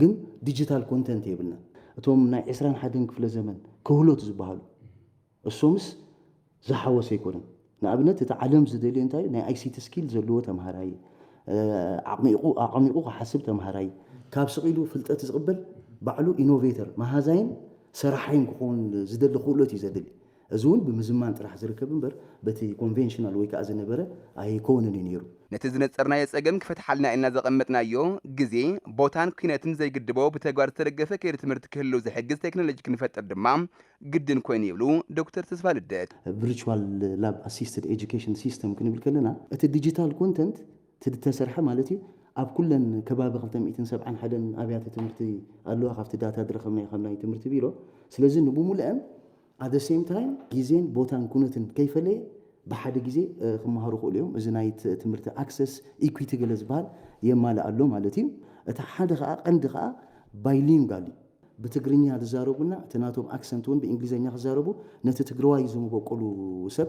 ግን ዲጂታል ኮንተንት የብልናን። እቶም ናይ ዕስራን ሓደን ክፍለ ዘመን ክህሎት ዝበሃሉ እሶምስ ዝሓወሰ ኣይኮነን። ንኣብነት እቲ ዓለም ዝደልዮ እንታይ እዩ? ናይ ኣይሲቲ ስኪል ዘለዎ ተምሃራይ፣ ኣዕሚቑ ኣዕሚቑ ክሓስብ ተምሃራይ፣ ካብ ስቕ ኢሉ ፍልጠት ዝቕበል ባዕሉ ኢኖቬተር፣ መሃዛይን ሰራሓይን ክኸውን ዝደሊ ክእሎት እዩ ዘድሊ። እዚ እውን ብምዝማን ጥራሕ ዝርከብ እምበር በቲ ኮንቬንሽናል ወይ ከዓ ዝነበረ ኣይኮንን እዩ ነይሩ። ነቲ ዝነፀርናዮ ፀገም ክፈትሓልና ኢልና ዘቐመጥናዮ ግዜ፣ ቦታን ኲነትን ዘይግድቦ ብተግባር ዝተደገፈ ከይዲ ትምህርቲ ክህልው ዝሕግዝ ቴክኖሎጂ ክንፈጥር ድማ ግድን ኮይኑ ይብሉ ዶክተር ተስፋልደት። ቭርቹዋል ላብ ኣሲስትድ ኤጁኬሽን ሲስተም ክንብል ከለና፣ እቲ ዲጂታል ኮንተንት ትድተሰርሐ ማለት እዩ ኣብ ኩለን ከባቢ ክልተ ሚእትን ሰብዓን ሓደን ኣብያተ ትምህርቲ ኣለዋ ካብቲ ዳታ ድረኸብናዮ ካብ ናይ ትምህርቲ ቢሮ ስለዚ ንብሙለኣን At the same time ግዜን ቦታን ኩነትን ከይፈለየ ብሓደ ግዜ ክመሃሩ ይኽእሉ እዮም። እዚ ናይ ትምህርቲ ኣክሰስ ኢኲቲ ገለ ዝበሃል የማልእ ኣሎ ማለት እዩ። እቲ ሓደ ከኣ ቀንዲ ከኣ ባይሊንጋል እዩ። ብትግርኛ ዝዛረቡና እቲ ናቶም ኣክሰንት እውን ብእንግሊዘኛ ክዛረቡ ነቲ ትግረዋይ ዝመበቆሉ ሰብ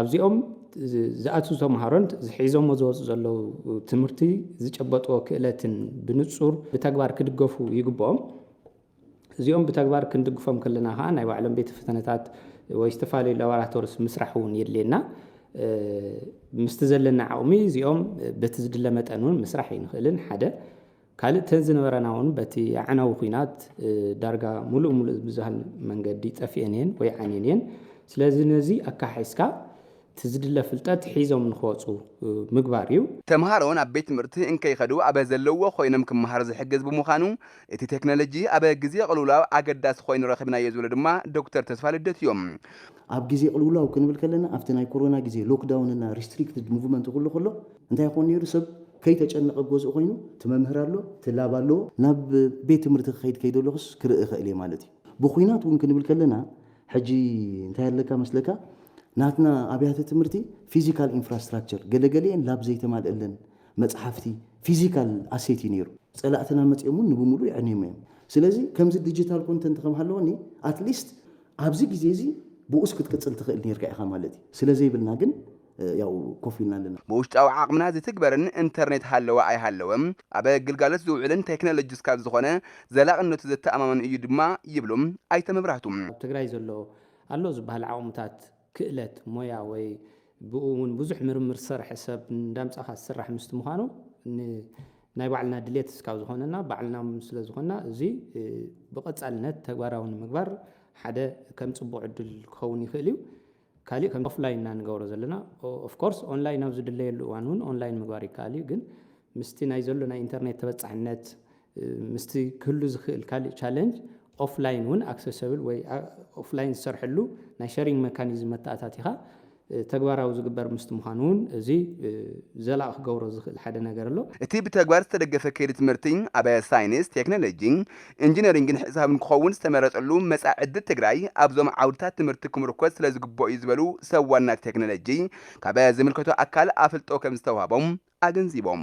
ኣብዚኦም ዝኣትው ተምሃሮን ሒዞሞ ዝወፁ ዘለው ትምህርቲ ዝጨበጥዎ ክእለትን ብንፁር ብተግባር ክድገፉ ይግበኦም። እዚኦም ብተግባር ክንድግፎም ከለና ከዓ ናይ ባዕሎም ቤተ ፈተነታት ወይ ዝተፈላለዩ ላቦራቶርስ ምስራሕ እውን የድልየና። ምስቲ ዘለና ዓቕሚ እዚኦም በቲ ዝድለ መጠን እውን ምስራሕ ኣይንኽእልን ሓደ ካልእ እተን ዝነበራና እውን በቲ ኣዕናዊ ኲናት ዳርጋ ምሉእ ምሉእ ብዝበሃል መንገዲ ጠፊኤን እየን ወይ ዓንየን እየን። ስለዚ ነዚ ኣካሓሒስካ እቲ ዝድለ ፍልጠት ሒዞም ንክወፁ ምግባር እዩ። ተምሃሮ ናብ ቤት ትምህርቲ እንከይኸዱ ኣብ ዘለውዎ ኮይኖም ክመሃሩ ዝሕግዝ ብምዃኑ እቲ ቴክኖሎጂ ኣብ ግዜ ቅልውላው ኣገዳሲ ኮይኑ ረኺብናዮ ዝብሉ ድማ ዶክተር ተስፋልደት እዮም። ኣብ ግዜ ቅልውላው ክንብል ከለና ኣብቲ ናይ ኮሮና ግዜ ሎክዳውን እና ሪስትሪክትድ ሙቭመንት ኩሉ ከሎ፣ እንታይ ይኾን ነይሩ ሰብ ከይተጨነቐ ኣብ ገዝኡ ኮይኑ እቲ መምህር ኣሎ፣ እቲ ላብ ኣለዎ፣ ናብ ቤት ትምህርቲ ክኸይድ ከይደለኹስ ክርኢ እኽእል እየ ማለት እዩ። ብኹናት እውን ክንብል ከለና ሕጂ እንታይ ኣለካ መስለካ ናትና ኣብያተ ትምህርቲ ፊዚካል ኢንፍራስትራክቸር ገለገሊኤን ላብ ዘይተማልእለን መጽሓፍቲ ፊዚካል ኣሴት እዩ ነይሩ። ጸላእትና መጺኦም እውን ንብምሉኡ የዕንዮም እዮም። ስለዚ ከምዚ ዲጂታል ኮንተንት ከም ሃለወኒ ኣትሊስት ኣብዚ ግዜ እዚ ብኡስ ክትቅጽል ትኽእል ነይርካ ኢኻ ማለት እዩ። ስለ ዘይብልና ግን ያው ኮፍ ኢልና ኣለና። ብውሽጣዊ ዓቕምና ዝትግበርን እንተርኔት ሃለወ ኣይሃለወ ኣብ ግልጋሎት ዝውዕልን ቴክኖሎጂ እስካብ ዝኾነ ዘላቕነቱ ዘተኣማምን እዩ ድማ ይብሉ ኣይተ መብራህቱ። ኣብ ትግራይ ዘሎ ኣሎ ዝበሃል ዓቕምታት፣ ክእለት፣ ሞያ ወይ ብኡ እውን ብዙሕ ምርምር ዝሰርሐ ሰብ እንዳምፃእኻ ዝስራሕ ምስቲ ምዃኑ ንናይ ባዕልና ድሌት እስካብ ዝኾነና ባዕልና ስለ ዝኾንና እዙይ ብቐፃልነት ተግባራዊ ንምግባር ሓደ ከም ፅቡቕ ዕድል ክኸውን ይኽእል እዩ። ካሊእ ከምቲ ኦፍላይን እና ንገብሮ ዘለና ኦፍ ኮርስ ኦንላይን ኣብ ዝድለየሉ እዋን እውን ኦንላይን ምግባር ይከኣል እዩ ግን ምስቲ ናይ ዘሎ ናይ ኢንተርኔት ተበፃሕነት ምስቲ ክህሉ ዝኽእል ካሊእ ቻለንጅ ኦፍላይን እውን ኣክሰሰብል ወይ ኦፍላይን ዝሰርሐሉ ናይ ሸሪንግ መካኒዝም መተኣታቲኻ ተግባራዊ ዝግበር ምስቲ ምዃኑ እውን እዚ ዘላቒ ክገብሮ ዝኽእል ሓደ ነገር ኣሎ። እቲ ብተግባር ዝተደገፈ ከይዲ ትምህርቲ ኣብ ሳይንስ፣ ቴክኖሎጂ፣ ኢንጂነሪንግን ሒሳብን ክኸውን ዝተመረፀሉ መፃኢ ዕድል ትግራይ ኣብዞም ዓውድታት ትምህርቲ ክምርኮዝ ስለዝግበኦ ዩ ዝበሉ ሰብ ዋና ቴክኖሎጂ ካብ ዝምልከቶ ኣካል ኣፍልጦ ከምዝተውሃቦም ኣገንዚቦም።